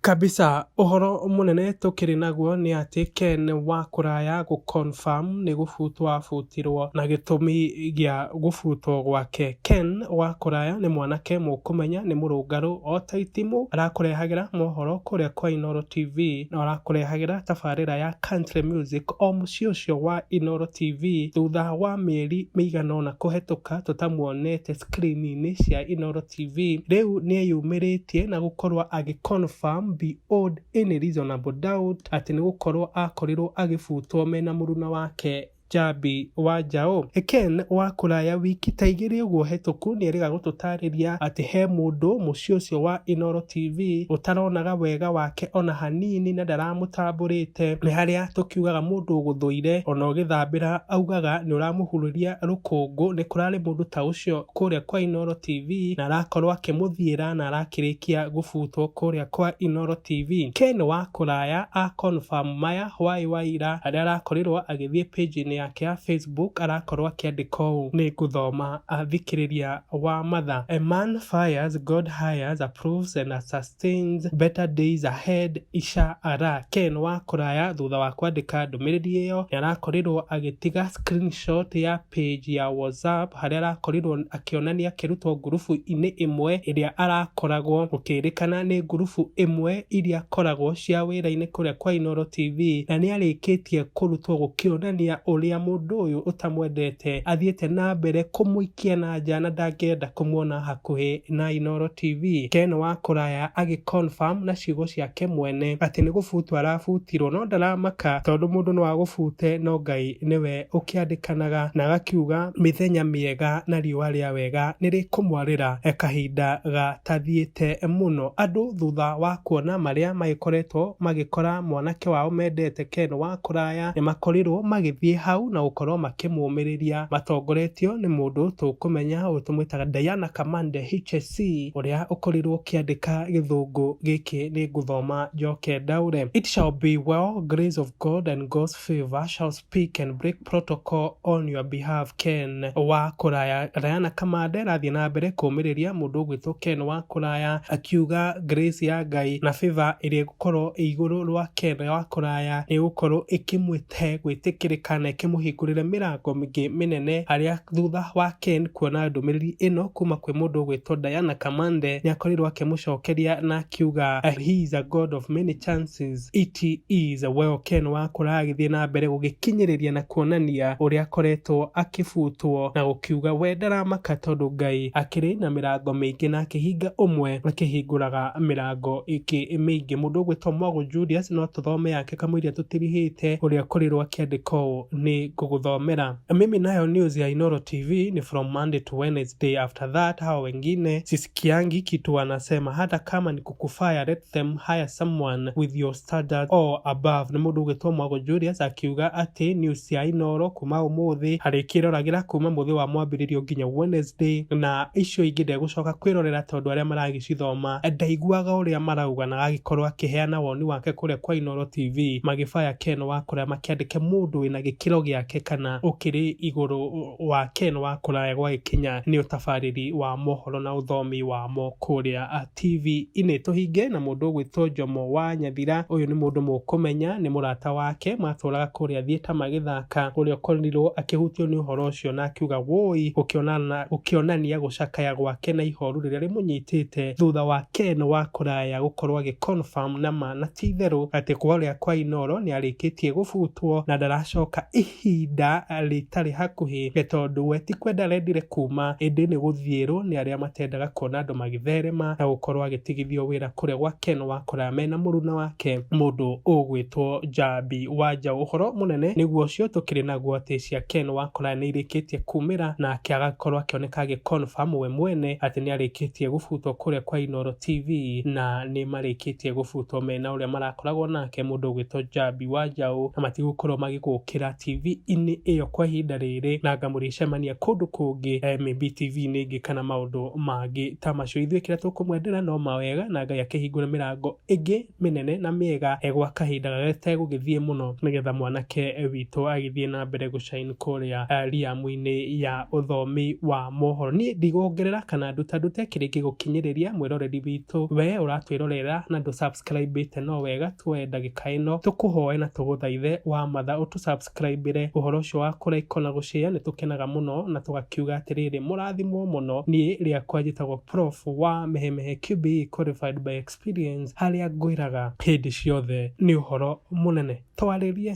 Kabisa ũhoro mũnene tũkĩrĩ naguo nĩ atĩ Ken wa kũraya gũ confirm nĩ gũbutwo abutirwo na gĩtũmi gĩa gũbutwo gwake. Ken wa kũraya nĩ mwanake mũkũmenya nĩ mũrũngarũ ota itimũ arakũrehagĩra mohoro kũrĩa kwa Inooro TV na arakũrehagĩra tabarĩra ya Country Music o mũciĩ ũcio wa Inooro TV thutha wa mĩeri mĩigana ona kũhetũka tũtamuonete screen inĩ cia Inooro TV. TV rĩu nĩeyumĩrĩtie na gũkorwo agĩ confirm beyond any reasonable doubt atĩ nĩ gũkorwo akorirwo agĩbutwo mena mũruna wake Njambi wa Njaũ. Ken wa kũraya wiki ta igĩrĩ ũguo hetũku nĩerĩga gũtũtarĩria atĩ he mũndũ mũciĩ ũcio wa Inooro TV ũtaronaga wega wake ona hanini na ndaramũtambũrĩte. Nĩ harĩa tũkiugaga mũndũ ũgũthũire ona ũgĩthambĩra augaga nĩũramũhurĩria rũkũngũ, nĩ kũrarĩ mũndũ ta ũcio kũrĩa kwa Inoro TV na arakorwo akĩmũthiĩra na arakĩrĩkia gũbutwo kũrĩa kwa Inoro TV. Ken wa kũraya a confirm maya hwaĩ wa ira harĩa arakorirwo agĩthiĩ page inĩ yake ya Facebook arakorwo akĩandĩka ũũ, Nĩngũthoma athikĩrĩria wa matha, A man fires, God hires, approves and Stains, Better Days Ahead, Isha Ara. Ken wa kũraya thutha wa kwandĩka ndũmĩrĩri ĩyo nĩ arakorirwo agĩtiga screenshot ya page ya WhatsApp harĩa arakorirwo akĩonania akĩrutwo ngurubu-inĩ ĩmwe ĩrĩa arakoragwo, gũkĩrĩkana nĩ ngurubu ĩmwe iria akoragwo cia wĩra-inĩ kũrĩa kwa Inooro TV na nĩ arĩkĩtie kũrutwo gũkĩonania ũrĩa mũndũ ũyũ ũtamwendete athiĩte na mbere kũmũikĩra. Kĩananja na ndangĩenda kũmuona hakuhĩ na Inooro TV. Ken wa kũraya agĩ confirm na ciugo ciake mwene atĩ nĩ gũbutu arabutirwo no ndaramaka tondũ mũndũ no agũbute no Ngai nĩwe ũkĩandĩkanaga na agakiuga mĩthenya mĩega na riũa rĩa wega nĩ rĩkũmwarĩra kahinda gatathiĩte mũno. Andũ thutha wa kuona marĩa magĩkoretwo magĩkora mwanake wao mendete Ken wa kũraya nĩ makorirwo magĩthiĩ hau na gũkorwo makĩmũmĩrĩria. matongoretio nĩ mũndũ tũkũmenya ũyũ tũmwĩtaga Diana Kamande HSC ũrĩa ũkorirwo ũkĩandĩka gĩthũngũ gĩkĩ nĩ ngũthoma njoke ndaũre It shall be well grace of God and God's favour shall speak and break protocol on your behalf Ken wa kũraya Diana Kamande arathiĩ na mbere kũmĩrĩria mũndũ ũgwĩtwo Ken wa kũraya akiuga grace ya Ngai na favour ĩrĩa ĩgũkorwo ĩ igũrũ rwa Ken wa kũraya nĩ ĩgũkorwo ĩkĩmwĩteithia he gwĩtĩkĩrĩka na ĩkĩmũhingũrĩre mĩrango mĩngĩ mĩnene harĩa thutha wa Ken kuona ndũmĩrĩri ĩno kuma kwĩ mũndũ ũgwĩtwo Diana Kamande nĩakorirwo akĩmũcokeria na akiuga he is a god of many chances it is well Ken wakũra agĩthiĩ na mbere gũgĩkinyĩrĩria na kuonania ũrĩa akoretwo akĩbutwo na gũkiuga we ndaramaka tondũ Ngai akĩrĩ na mĩrango mĩingĩ na akĩhinga ũmwe akĩhingũraga mĩrango ĩngĩ mĩingĩ mũndũ ũgwĩtwo Mogo Julius no tũthome yake kamũira tũtirihĩte ũrĩa korirwo akĩandĩka ũũ nĩ ngũgũthomera mimi nayo news ya Inoro TV ni from Monday to Wednesday after that hao wengine sisikiangi kitu wanasema hata kama ni kukufaya let them hire someone with your standard or above nĩ mũndũ ũgĩtwo Mwago Julius akiuga atĩ news ya Inoro kuma ũmũthĩ arĩkĩroragĩra kuma mũthĩ wa mwambĩrĩrio nginya Wednesday na icio ingĩ ndegũcoka kwĩrorera tondũ arĩa maragi gũcithoma, ndaiguaga ũrĩa marauga na agagĩkorwo akĩheana woni wake kũrĩa kwa Inooro TV, magĩbaya Ken wa kũraya makĩandĩke mũndũ wĩna gĩkĩro gĩake kana ũkĩrĩ igũrũ wa Ken wa kũraya gwagĩkinya nĩ ũtabarĩri wa mohoro na ũthomi wamo kũrĩa TV-inĩ. Tũhinge na mũndũ ũgwĩtwo Jomo wa Nyathira, ũyũ nĩ mũndũ mũkũmenya, nĩ mũrata wake matũraga kũrĩa Thieta magĩthaka. gũcakaya. Ũrĩa ũkorirũo akĩhutio nĩ ũhoro ũcio na akiuga wũi, gũkĩonania gũcakaya gwake na ihoru rĩrĩa rĩmũnyitĩte thutha wa Ken wa kũraya gũkorũo agĩ confirm na ma na ti itherũ atĩ kũrĩa kwa Inooro nĩ arĩkĩtie gũbutwo na ndaracoka ihinda rĩtarĩ hakuhĩ nĩ tondũ we ti kwenda arendire kuuma ĩndĩ nĩ gũthiĩrũo nĩ arĩa matendaga kuona andũ magĩtherema na gũkorũo agĩtigithio wĩra kũrĩa gwa Ken wa kũraya mena mũruna wake mũndũ ũgwĩtwo Njambi wa njaũ ũhoro mũnene nĩguo ũcio tũkĩrĩ naguo atĩ cia Ken Wakola nĩirĩkĩtie kumĩra na akĩaga gũkorwo akĩoneka agĩ confirm we mwene atĩ nĩarĩkĩtie gũbutwo kũrĩa kwa Inooro TV na nĩmarĩkĩtie gũbutwo mena ũrĩa marakoragwo nake mũndũ ũgwĩtwo Njambi wa njaũ na matigũkorwo magĩgũkĩra TV inĩ ĩyo kwa ihinda rĩrĩ na anga mũrĩcemania kũndũ kũngĩ maybe TV inĩ ĩngĩ kana maũndũ mangĩ ta macio ithuĩ kĩrĩa tũkũmwendera no mawega na Ngai akĩhingũre mĩrango ĩngĩ mĩnene na mĩega eh, gwa kahinda gategũgĩthiĩ mũno nĩgetha mwanake eh, witũ agĩthiĩ na mbere gũcaini kũrĩa eh, riamu-inĩ ya ũthomi wa mohoro niĩ ndigũongerera kana nduta ndute kĩrĩ gĩgũkinyĩrĩria mwĩroreri witũ we ũratwĩrorera na ndũ subscribe ĩte no wega tuoe ndagĩka ĩno tũkũhoe na tũgũthaithe wa matha ũtũ tũsubscribĩre ũhoro ũcio wa kũ like ona gũ share nĩtũkenaga mũno na tũgakiuga atĩrĩrĩ mũrathimwo mũno niĩ rĩakwa njĩtagwo prof wa mehemehe QBE qualified by experience harĩa ngwĩraga hĩndĩ ciothe nĩ ũhoro mũnene twarĩrie.